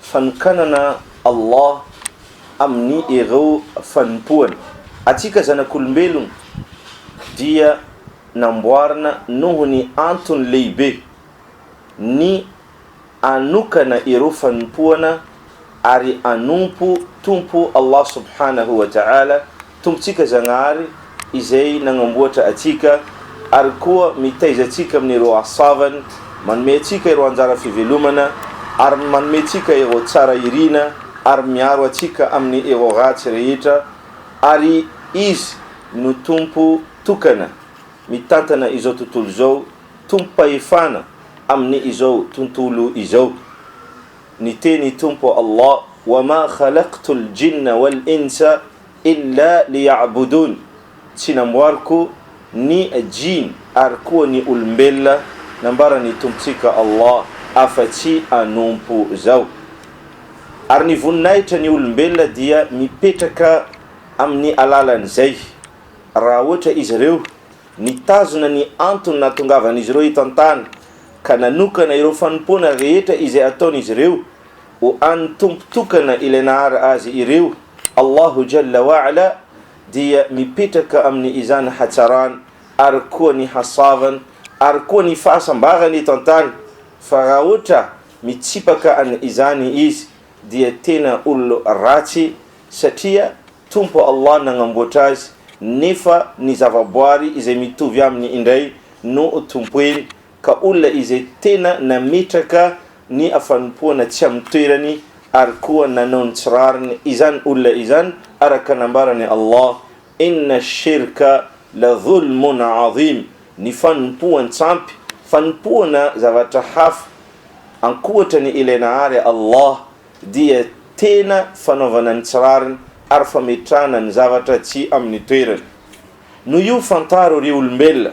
Fanokanana Allah amin'ny ireo fanompoany. Antsika zanak'olombelogna dia namboarina noho ny antony lehibe, ny anokana ireo fanompoana ary anompo Tompo Allah Subhanahu wa Ta'ala Tompontsika Zagnahary izay nagnamboatra antsika ary koa mitaiza antsika amin'ireo hasoavany, manome antsika ireo anjara fivelomana ary manome antsika ireo tsara irina ary miaro antsika amin'ny ireo ratsy rehetra ary Izy no Tompo tokana mitantana izao tontolo izao, Tompom-pahefana amin'ny izao tontolo izao. Niteny i Tompo Allah, Wa ma khalaqtul jinna wal insa, Illa liya'budun, Tsy namboariko ny Jinn ary koa ny olombelona nambaran'ny Tompontsika Allah afa-tsy hanompo Zaho. Ary ny voninahitra ny olombelona dia mipetraka amin'ny alalan'izay, raha ohatra izy ireo nitazona ny antony nahatongavan'izy ireo eto an-tany ka nanokana ireo fanompoana rehetra izay ataon'izy ireo ho an'ny Tompo tokana Ilay nahary azy ireo, Allahu Jalla wa Ala dia mipetraka amin'ny izany hatsarany ary koa ny hasavany ary koa ny fahasambarany eto an-tany, fa raha ohatra mitsipaka an'ny izany izy dia tena olona ratsy satria Tompo Allah nagnamboatra azy nefa ny zavaboary izay mitovy aminy indray no tompoiny ka olona izay tena nametraka ny fanompoana tsy amin'ny toerany ary koa nanao ny tsy rariny izany olona izany araka nambaran'i Allah, Inna ash-shirka la dhulmun 'azim, ny fanompoan-tsampy, fanompoana zavatra hafa ankoatra ny ilay nahary Allah, dia tena fanaovana ny tsy rariny ary fametrahana ny zavatra tsy amin'ny toerany. Noho io fantaro ry olombelona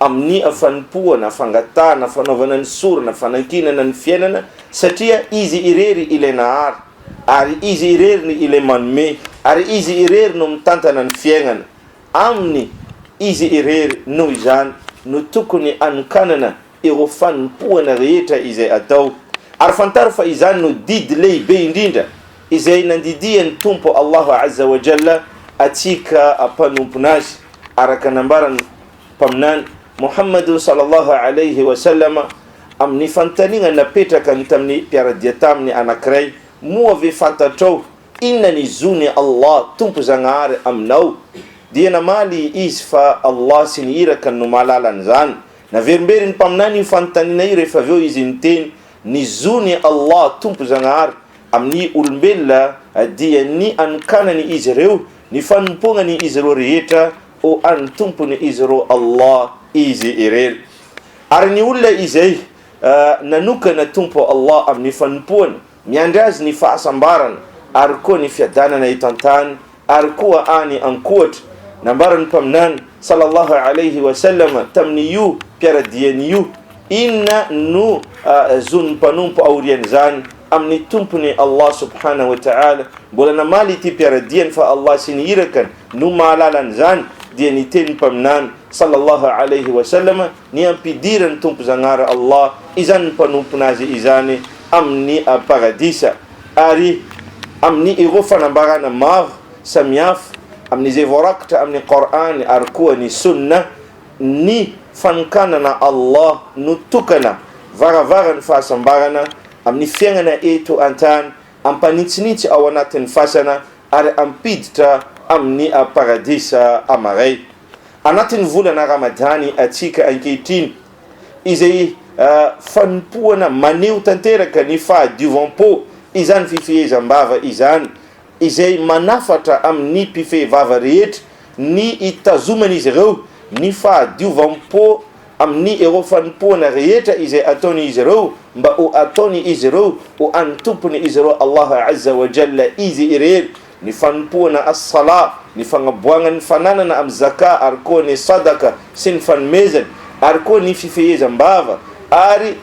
amin'ny fanompoana, fangatahana, fanaovana ny sorona, fanankinana ny fiainana, satria Izy irery ilay nahary, ary Izy irery no ilay manome, ary Izy irery no mitantana ny fiainana. Aminy Izy irery, noho izany, no tokony anokanana ireo fanompoana rehetra izay atao. Ary fantaro fa izany no didy lehibe indrindra izay nandidian'ny Tompo Allahu Azza wa Jalla antsika mpanompon'Azy, araka nambaran'i. Mpaminany, Mohamadun Sallallahu Alaihi Wasallam, amin'ny fanontaniana napetrakany tamin'ny mpiara-dia taminy anankiray, Moa ve fantatrao inona ny zon'i Allah, Tompo Zagnahary, aminao? dia namaly izy fa Allah sy ny Irakany no mahalala an'izany. Naverimberin'ny Mpaminany io fanontaniana io rehefa avy eo izy niteny, Ny zon'i Allah, Tompo Zagnahary, amin'ny olombelona dia ny anokanany izy ireo, ny fanompoagnany izy ireo rehetra, Ho an'ny Tompony izy roa Allah izy ireny. Ary ny olona izay nanokana Tompo Allah amin'ny fanompoany, miandry azy ny fahasambarana ary koa ny fiadanana eto an-tany ary koa any an-kohatra. Nambaran'ny Mpaminany sallallahu alaihi wa sallam tamin'io mpiara-diany io, Inona no zon'ny mpanompo aorian'izany? amin'ny Tompony Allah subhanahu wa ta'ala, mbola namaly ity mpiara-diany fa Allah sy ny Irakany no mahalala an'izany, dia ny tenin'ny Mpaminany sallallahu alayhi wa sallam, ny ampidiran'ny Tompo Zagnahary Allah izany mpanompona azy izany amin'ny Paradisa, ary amin'ny ireo fanambarana maro samihafa, amin'izay voarakitra amin'ny Qor'any ary koa ny Sunnah, Ny fanokanana Allah no tokana, varavaran'ny fahasambarana, amin'ny fiainana eto an-tany, ampanintsinintsy ao anatin'ny fasana ary ampiditra amin'ny Paradisa amaray. Anatin'ny volana Ramadany atsika ankehitriny, izay fanompoana maneho tanteraka ny fahadiovam-po izany fifehezam-bava izany izay manafatra amin'ny mpifehy vava rehetra ny hitazoman'izy ireo ny fahadiovam-po amin'ny ireo fanompoana rehetra izay ataon'izy ireo mba ho ataon'izy ireo ho an'ny Tompon'izy ireo Allah Azza wa Jalla Izy irery, ny fanompoana As-Salah, ny fagnaboagnan'ny fananana amin'ny Zakah ary koa ny Sadaka sy ny fanomezany ary koa ny fifehezam-bava ary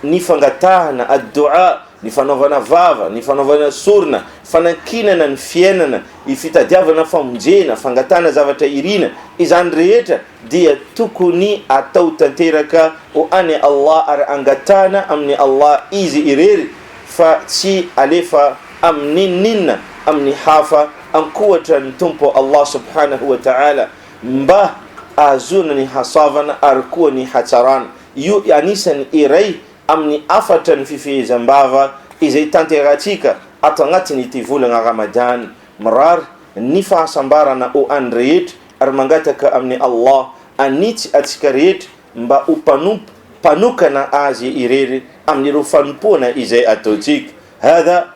ny fangatahana, ad-doua, ny fanaovana vava, ny fanaovana sorona, fanankinana ny fiainana, ny fitadiavana famonjena, fangatahana zavatra irina, izany rehetra dia tokony atao tanteraka ho an'i Allah ary angatahana amin'i Allah Izy irery fa tsy alefa amin'inon'inona amin'ny hafa ankoatran'ny Tompo Allah Subhanahu wa Ta'ala mba ahazoana ny hasoavana ary koa ny hatsarana. Io anisany iray amin'ny hafatra ny fifehezam-bava izay tanterahintsika ato anatin'ity volana Ramadany. Mirary ny fahasambarana ho an'ny rehetra ary mangataka amin'i Allah hanitsy antsika rehetra mba ho mpanompo mpanokana Azy irery amin'ireo fanompoana izay ataontsika. Hadha.